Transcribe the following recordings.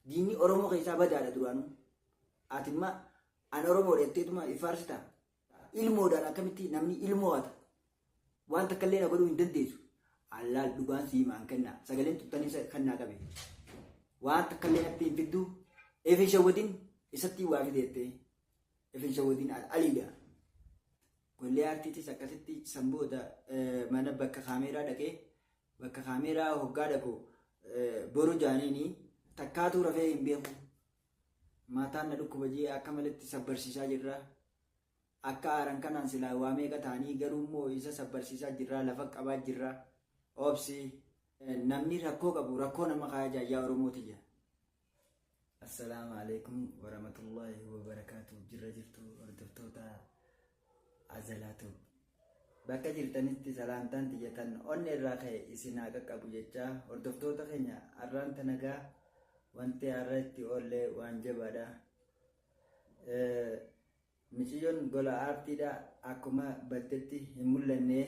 Diinni Oromoo keessaa badaadha duraanuu. Ati imma an Oromoo dheetteetuma ifaarsita. Ilmoodhaan akkamitti namni ilmoo hata. Waan takka illee na godhuu hin dandeessu. Allaal dhugaan sii maan kenna. Sagaleen tuttanii isa kan naa qabe. Waan takka illee natti hin fiddu. Efin shawwadin isatti waa fideettee. Efin shawwadin aliidha. Gollee aartiitis akkasitti san booda mana bakka kaameeraa dhaqee Bakka kaameeraa hoggaa dhaqu boru jaaniini takkaatuu rafee hin beeku. Mataan na dhukkuba jee akka malitti sabbarsiisaa jirra. Akka aaran kanaan silaa waa meeqa ta'anii garuu immoo isa sabbarsiisaa jirra lafa qabaa jirra. Obsi namni rakkoo qabu rakkoo nama kaayajaa yaa Oromoo tiyya. Assalaamu alaikum waramatullahi wabarakaatu jirra jirtu hordoftoota azalaatu bakka jirtanitti salaamtaan tiyyatan onni irraa ka'e isin haa qaqqabu jechaa hordoftoota keenya arraan tanagaa wanti har'a itti oollee waan jabaadha. Miciyyoon gola aartiidha akkuma battetti hin mul'anne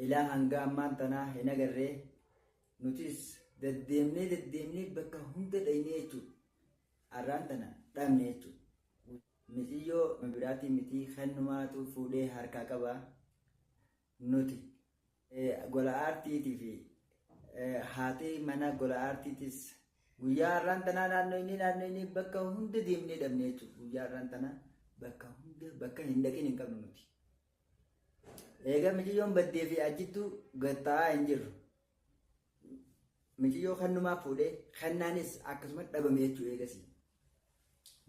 ilaa hanga ammaan tanaa hin agarre nutis daddeemnee daddeemnee bakka hunda dhaynee jechuudha. Arraan tana dhabne jechuudha. Miciyyoo biraatii mitii kannumaatu fuudhee harkaa qaba. Nuti gola aartiitii fi haati mana gola aartiitis guyyaa har'aan tanaa naannoo inni naannoo inni bakka hunda deemnee dhabne jechuudha. Guyyaa har'aan tanaa bakka hunda bakka hin dhaqin hin qabnu nuti. Egaa miciyyoon baddee fi ajjittuu gatta'aa hin jirru. Miciyyoo kannumaa fuudhee kannaanis akkasuma dhabame jechuudha eegasii.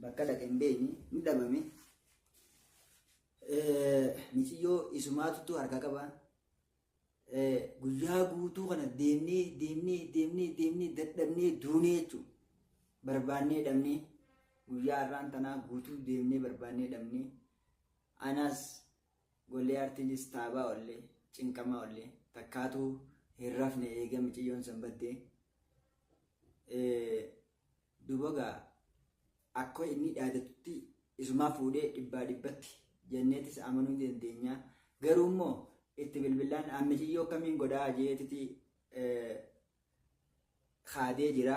Bakka dhaqe hin beekne hin dhabame. Miciyyoo isumaatutu harkaa qaba. Guyyaa guutuu kana deemnee deemnee deemnee deemnee dadhabnee duunee jechuudha. Barbaannee dhabnee guyyaa har'aan tanaa guutuu deemnee barbaannee dhabnee anaas gollee artiinis taabaa ollee cinqamaa ollee takkaatuu hin rafne eega miciyyoon sanbattee Duuba gaa akka inni dhaadatutti isumaa fuudhee dhibbaa dhibbatti jenneetis amanuu ni dandeenya. Garuu immoo itti bilbillaan an miciyyoo akkamiin godhaa jeetiti kaadee jira.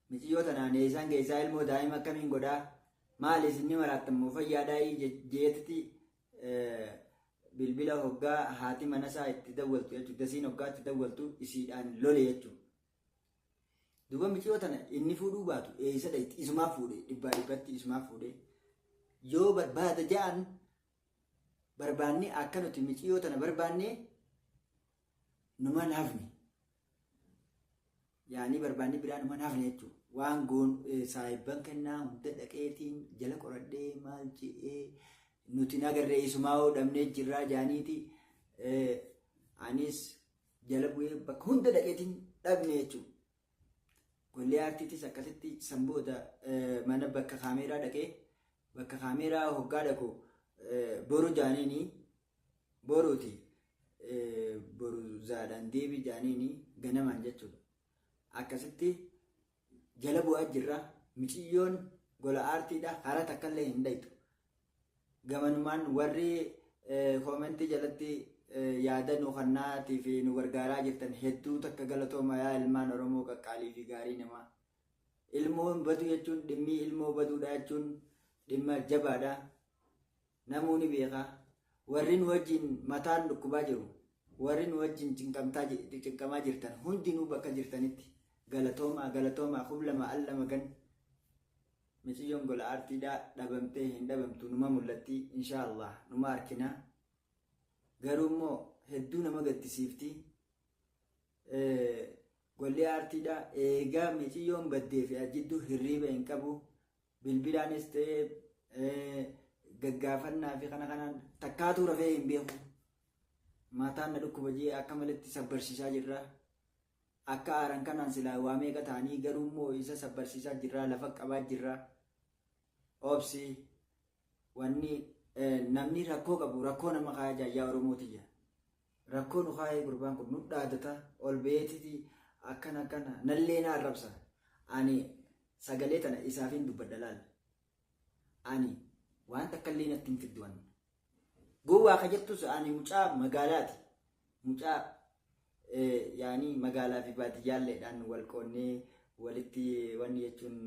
Miciyyoo tanaan eessaan keessaa ilmoo daa'ima akkamiin godhaa maali isinni maraattan moo fayyaadhaa jeetiti bilbila hoggaa haati manasaa itti dawwaltu jechuudha. Dasiin hoggaa itti dawwaltu isiidhaan lole jechuudha. Duuba miciyoo tana inni fuudhuu baatu eeysa dhayti isumaa fuudhe dhibbaa dhibbatti isumaa fuudhe yoo barbaada ja'an barbaanne akka nuti miciyoo tana barbaanne numan hafne yaanii barbaanne biraa numan hafne jechuudha. Waan goon saahibban kennaa hunda dhaqeetiin jala qoradhee maal je'ee nuti nagarree isumaa hoo dhabnee jirraa jaaniiti anis jala bu'ee bakka hunda dhaqeetiin dhabne jechuudha. Gollee aartiitis akkasitti san booda mana bakka kaameeraa dhaqee bakka kaameeraa hoggaa dhaqu boru jaaniini boruuti boru zaadhaan deebi jaaniini ganamaan jechuudha. Akkasitti jala bu'aa jirra miciyyoon gola aartiidha hara takkallee hin dhaytu gamanumaan warri koomentii jalatti yaada nu kannaatii fi nu gargaaraa jirtan hedduu takka galatooma yaa ilmaan oromoo qaqqaalii fi gaarii namaa ilmoon baduu jechuun dhimmii ilmoo baduudha jechuun dhimma jabaadha Namuu ni beeka. Warri nu wajjin mataan dhukkubaa jiru, warri nu wajjin cinqamtaa ji- cinqamaa jirtan hundinuu bakka jirtanitti galatoomaa galatoomaa kub lama al lama gan miciyyoon gola aartiidhaa dhabamtee hin dhabamtu numa mul'atti inshaa Allah numa arkinaa garuu immoo hedduu nama gaddisiifti Eh, golli aartiidhaa eegaa miciyyoon baddee fi jidduu hirriiba hin qabu Bilbilaanis ta'ee gaggaafannaa fi kana kanaan takkaatuu rafee hin beeku. Mataan na dhukkuba jee akka malitti sabbarsiisaa jirra. Akka aaran kanaan silaa waa meeqa ta'anii garuu immoo isa sabbarsiisaa jirra lafa qabaa jirra. Obsi wanni namni rakkoo qabu rakkoo nama kaayajaa yaa Oromoo tiyya. Rakkoo nu kaayee gurbaan kun nu dhaadata ol beetiti akkana akkana nallee na arrabsa ani sagalee tana isaafin dubbadha laal ani waan takkallee natti hin fiddu anna gowwaa ka jettus ani mucaa magaalaati mucaa yaani magaalaa fi baadiyyaalleedhaan wal qoonnee Walitti wanni jechuun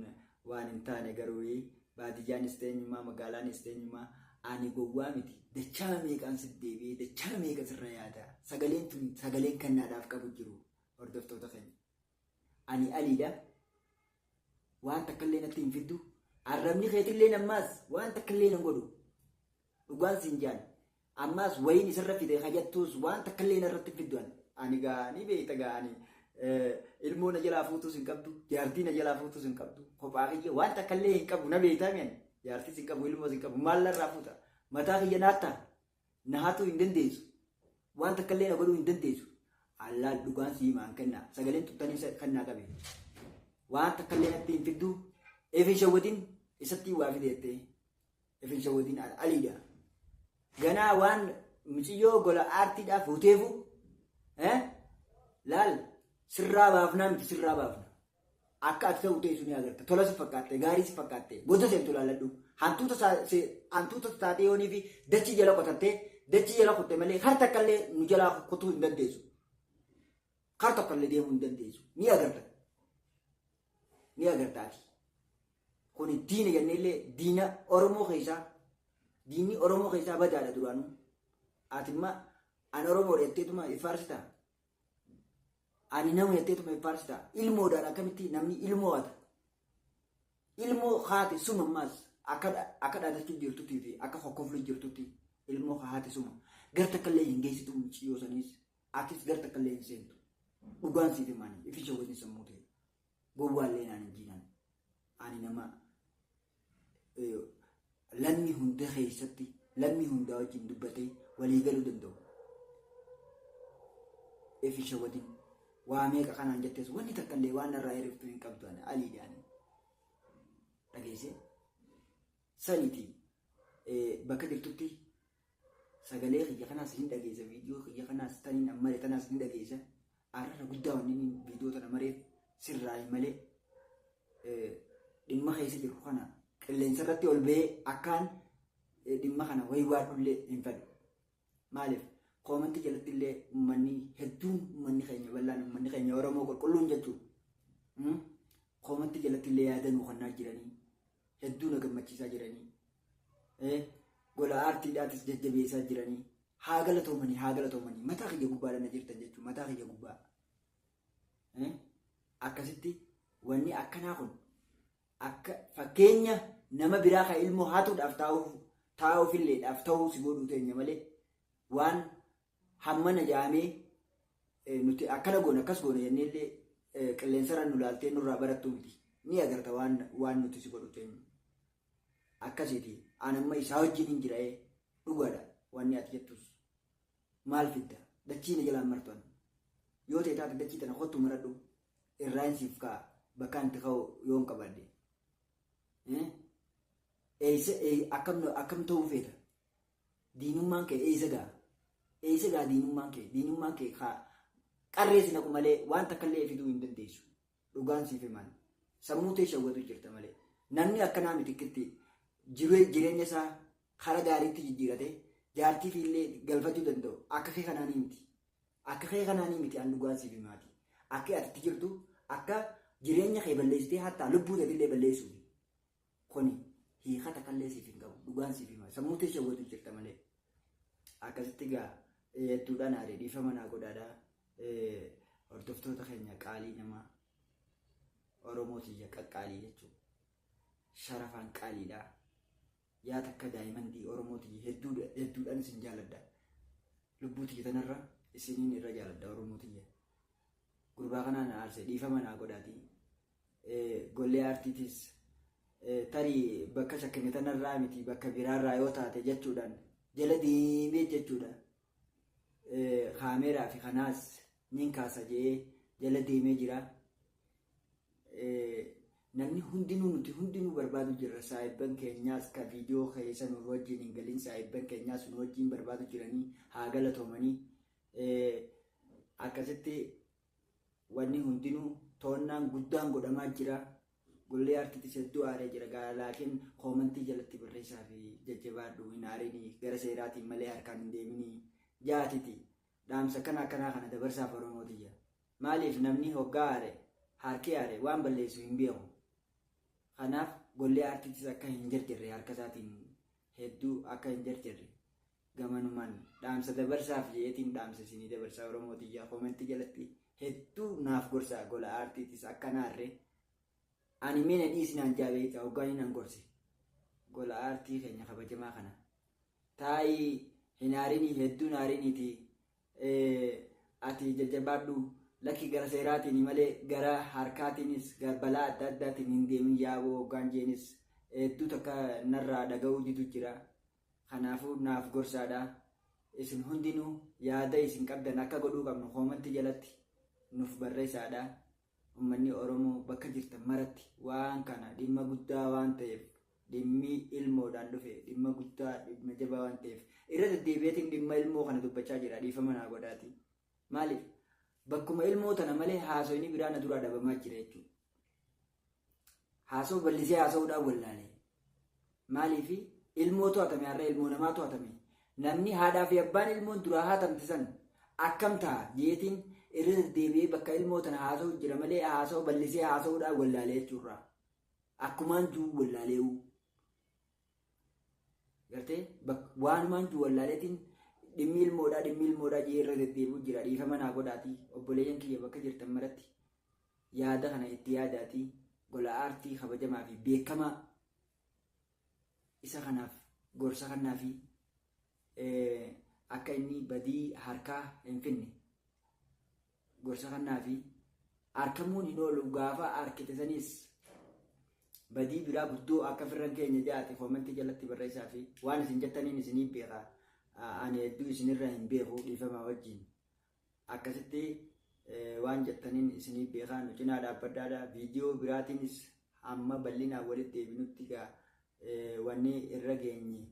waan hin taane garuu baadiyyaanis ta'e eenyummaa magaalaanis ta'e eenyummaa ani gowwaa miti dachaa meeqaan si deebi'ee dachaa meeqa sirra yaada sagaleen tun sagaleen kannaadhaaf qabu jiru hordoftoota keenya ani aliidha waan takkallee natti hin fiddu arrabni keetillee nammaas waan takkallee nan godhu dhugaan siin jaan Ammaas wayiin isarra fide ka jattuus waan takkallee narratti hin fiddu ani. Ani gaa ni beekta gaa ani ilmoo na jalaa fuutuus hin qabdu jaartii na jalaa fuutuus hin qabdu kophaa kiyya waan takkallee hin qabu na beektaa mi ani jaartiis hin qabu ilmoos hin qabu maal narraa fuuta mataa kiyya naatta na haatuu hin dandeessu waan takkallee na godhuu hin dandeessu allaal dhugaan sii maan kennaa sagaleen tuttanii kennaa qabe waan takkallee natti hin fiddu eefin shawwatiin isattii waa fideettee. Rifeensa weetiin al- aliidha. Ganaa waan miciyyoo gola aartiidhaaf huteefu eh, laal sirraa baafnaa miti sirraa baafna. Akka ati ta'u ta'e suni agarta. Tola si fakkaatte, gaarii si fakkaatte, booda seentu laalladhu. Hantuuta saa- se- hantuuta taatee yoonii fi dachii jala qotattee dachii jala qotte malee har takka illee nu jalaa qotuu hin dandeessu. Har tokko illee deemuu hin dandeessu. Ni agarta. Ni agarta ati. Kuni diina jennee illee diina Oromoo keessaa diinni Oromoo keessaa badaadha duraanuu. Ati immoo an Oromoodha jetteetuma ifaarsita. Ani nama jetteetuma ifaarsita. Ilmoodhaan akkamitti namni ilmoo hata. Ilmoo haati suma ammaas akka akka dhaadachuu jirtutti fi akka hokkofluu jirtutti ilmoo haati suma. Gar takka illee hin geessitu muciyyoo saniis atis gar takka illee hin seentu. Dhugaan siif himaani ifi shawwadni sammuu ta'e. Gowwaallee naan hin jiinaan. Ani nama lammii hunda keessatti lammii hundaa wajjin dubbatee walii galuu danda'u. Efi shawadin waa meeqa kanaan jettees wanni takka illee waan narraa hirriftu hin qabdu ani aliidhaan. Dhageessee saniitii bakka jirtutti Sagalee kiyya kanaas hin dhageessa viidiyoo kiyya kanaas taniin an mare tanaas hin dhageessa arrara guddaa wanni inni viidiyoo tana mareef sirraayi malee eh, dhimma keessa jirru kana qilleensa irratti ol ba'ee akkaan eh, dhimma kana waywaadhullee hin fedhu. Maaliif koomantii jalatti illee uummanni hedduun uummanni keenya bal'aan uummanni keenya Oromoo qulqulluun jechuudha. Mm? Koomantii jalatti illee yaada nuu kennaa jiranii hedduu na gammachiisaa jiranii ee gola aartiidhaatis jajjabeessaa jiranii haa galatoomanii haa galatoomanii mataa kiyya gubbaadha na jirtan jechuun mataa kiyya gubbaa ee akkasitti wanni akkanaa kun akka fakkeenya nama biraa kan ilmoo haatuudhaaf taa'uuf taa'uuf illeedhaaf ta'uu si godhuu teenya malee waan hammana jaamee eh, nuti akkana goona akkas goona jennee illee eh, qilleensarra nu laaltee nurraa barattuu miti ni agarta waan waan nuti si godhu teenya akkasiti an amma isaa wajjinin jira'ee dhugaadha wanni ati jettus maal fidda dachii na jalaan martu an yoo ta'e taate dachii tana kottu maradhu irraan siif ka'a bakkaan itti ka'u yoon qabaadde eeysa akkam ta'uu feeta diinummaan kee eeysa ga'a eeysa ga'a diinummaan kee diinummaan kee qarreesi naqu malee waan takka illee fiduu hin dandeessu Dhugaan siif himaan sammuu tee shawwatu jirta malee namni akkanaa miti kittii jiree- jireenya isaa kara gaariitti jijjiirate jaartii fi illee galfachuu danda'u akka kee kanaa ni miti akka kee kanaa ni miti an dhugaan siif himaati akka ati itti jirtu akka jireenya kee balleessitee hattaa lubbuu teetillee balleessuufi Kuni hiika takallee siif hin qabu. Dhugaan siif hima. Sammuu tee shawwatu jirta malee. Akkasitti gaa hedduudhaan aaree dhiifama naa godhaadha. Hordoftoota keenya qaalii namaa Oromoo tiyya qaqqaalii jechuun sharafaan qaaliidha. Yaa takka daa'imandii Oromoo tiyya hedduudhaan isin jaaladha. Lubbuu tiyya tanarra isiniin irra jaaladha Oromoo tiyya. gurbaa kanaa na aarse dhiifama naa godhaati gollee aartiitis tarii bakka shakkame tanarraa miti bakka biraarraa yoo taate jechuudhaan jala deemee jechuudha kaameeraa fi kanaas nin kaasa jedhee jala deemee jira. Namni hundinuu nuti hundinuu barbaadu jirra saayibban keenyaas ka viidiyoo keessa nu wajjin hin galin saayibban keenyaas nu wajjin barbaadu jiranii haa galatoomanii Akkasitti wanni hundinuu to'annaan guddaan godhamaa jira. Gollee Artitis hedduu aaree jira gaa laakiin koomantii jalatti barreessaa fi jajjabaadhu hin aarini gara seeraatiin malee harkaan hin deemini jaatiti dhaamsa kana akkanaa kana dabarsaaf Oromoo tiyya. Maaliif namni hoggaa aare harki aare waan balleessu hin beeku. Kanaaf gollee Artitis akka hin jarjarre harka isaatiin hedduu akka hin jarjarre gamanumaan dhaamsa dabarsaaf je'eetiin dhaamsa isinii dabarsaa Oromoo tiyyaa koomentii jalatti hedduu naaf gorsaa gola aartiitis akka naarre ani mee na dhiisi naan jaa beeyta hoggaanii nan gorse gola aartii keenya kabajamaa kana taa'ii hin haarinii hedduu hin haariniitii ati jajjabaadhu lakki gara seeraatiin malee gara harkaatiinis balaa adda addaatiin hin deemin yaaboo hoggaan jeenis hedduu takka narraa dhaga'uu didu jira kanaafuu naaf gorsaadha isin hundinuu yaada isin qabdan akka godhuu qabnu koomantii jalatti nuuf barreessaadha Ummanni Oromoo bakka jirtan maratti waan kana dhimma guddaa waan ta'eef dhimmi ilmoodhaan dhufe dhimma guddaa dhimma jabaa waan ta'eef irra deddeebi'eetiin dhimma ilmoo kana dubbachaa jira dhiifama naa godhaatii. Maaliif bakkuma ilmoo tana malee haasofni biraa na duraa dhabamaa jira jechuudha. Haasawu ballisee haasawudhaan wallaale. Maaliifi ilmoo to'atame har'a ilmoo namaa to'atame. Namni haadhaa fi abbaan ilmoon duraa haatamte san akkam ta'a jeetiin irra deddeebi'ee bakka ilmoo tana haasawu jira malee haasawu ballisee haasawudhaan wallaale jechuurraa. Akkumaan juu wallaalee'uu. Gartee waanumaan jiru wallaaleetiin dhimmi ilmoodhaa dhimmi ilmoodhaa jee irra deddeebi'u jira dhiifama naa godhaatii obboleeyyan kiyya bakka jirtan maratti yaada kana itti yaadaatii gola aartii kabajamaa fi beekamaa isa kanaaf gorsa kannaa fi akka inni badii harkaa hin finne gorsa kannaafii arkamuun hin oolu gaafa arkite saniis badii biraa guddoo akka firran keenya jaate koomantii jalatti barreessaa fi waan isin jettaniin isinii beeka ani hedduu isinirra hin beeku dhiifamaa wajjin akkasitti waan jettaniin isinii beekaa nu cinaa dhaabbadhaadha viidiyoo biraatiinis amma bal'inaan walitti deebinutti gaa wanni irra geenye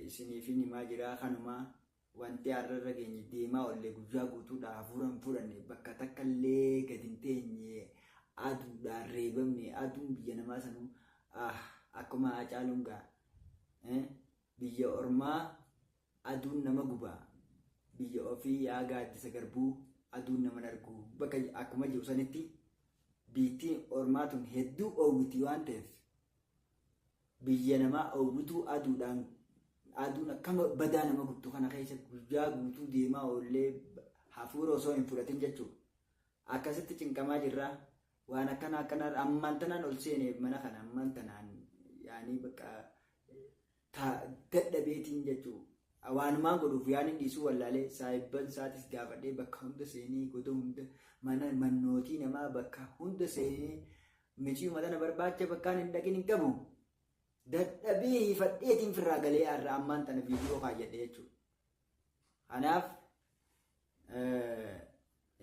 isiniifin himaa jiraa kanumaa Wanti har'a irra geenye deemaa ollee guyyaa guutuudhaa hafuura hin fudhanne bakka takka illee gad hin teenye aduudhaan reebamne aduun biyya namaa sanuu ah akkuma haacaaluun gaa eh, biyya ormaa aduun nama guba biyya ofii yaa gaaddisa garbuu aduun naman argu bakka akkuma jiru sanitti biittiin ormaa tun hedduu oowwiti waan ta'eef Biyya namaa oowwituu aduudhaan aduun akka badaa nama gubdu kana keessa guyyaa guutuu deemaa oollee hafuura osoo hin fudhatin jechuudha. Akkasitti cinqamaa jirraa waan akkana akkana ammaan tanaan ol seene mana kana ammaan tanaan yaanii bakka dadhabeetiin jechuudha. Waanumaan godhuuf yaaniin dhiisuu wallaalee saayibban isaatis gaafadhee bakka hunda seenee goda hunda mana mannootii namaa bakka hunda seenee Miciiyuma tana barbaacha bakkaan hin dhaqin hin qabu. Dadhabee hiifadheetiin firraa galee har'a ammaan tana viidiyoo kaayyadhe jechuudha. Kanaaf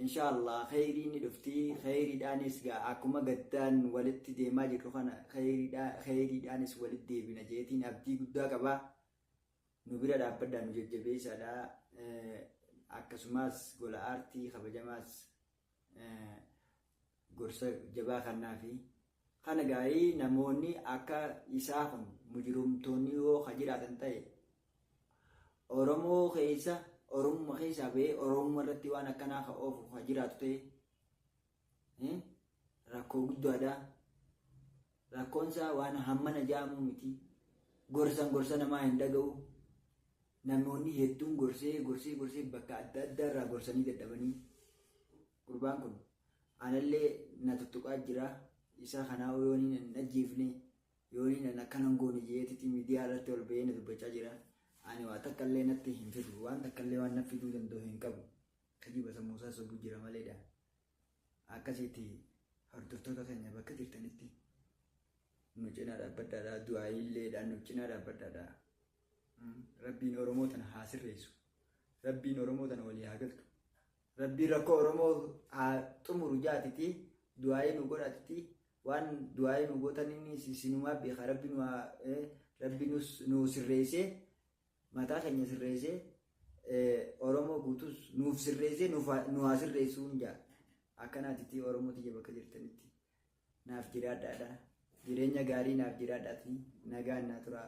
inshaallah kheyriin ni dhufti kheyriidhaanis gaa akkuma gaddaan walitti deemaa jirru kana kheyriidhaanis walitti deebina jeetiin abdii guddaa qaba. Nu bira dhaabbadhaa nu jajjabeessaadha. Akkasumas gola aartii kabajamaas gorsa jabaa kannaafi kana gaarii namoonni akka isaa kun mujirumtoonni yoo ka jiraatan ta'e oromoo keessa oromuma keessaa ba'ee oromuma irratti waan akkanaa ka oofu ka jiraatu ta'e rakkoo guddaadha Rakkoon isaa waan hammana ja'amuu miti. Gorsan gorsa namaa hin dhaga'u. Namoonni hedduun gorsee gorsee gorsee bakka adda addaa irraa gorsanii dadhabanii. Gurbaan kun anallee na tuttuqaa jira. Isa kanaa yooniin hin ajjeefne yooniin hin akkana hin goone jeetitti miidiyaa irratti ol ba'ee na dubbachaa jira. Ani waa takka illee natti hin fidu. Waan takka illee waan na fiduu danda'u hin qabu. Kijiba sammuu isaa sobuu jira maleedha. Akkasiiti hordoftoota keenya bakka jirtanitti nu cinaa dhaabbadhaadhaa du'aayiilleedhaan nu cinaa dhaabbadhaadhaa. Rabbiin Oromoo tana haa sirreessu. Rabbiin Oromoo tana walii haa galchu. Rabbiin rakkoo Oromoo haa xumuru jaatiti du'aayii nu godhatiti waan du'aayii nu gootan inni isinumaa beeka rabbi nu haa rabbi nu sirreessee Mataa keenya sirreessee Oromoo guutuus nuuf sirreessee nu haa sirreessuun jaa. Akkanaatitti Oromoo tiyya bakka jirtanitti naaf jiraadhaadha. Jireenya gaarii naaf jiraadhaati nagaan naa turaa.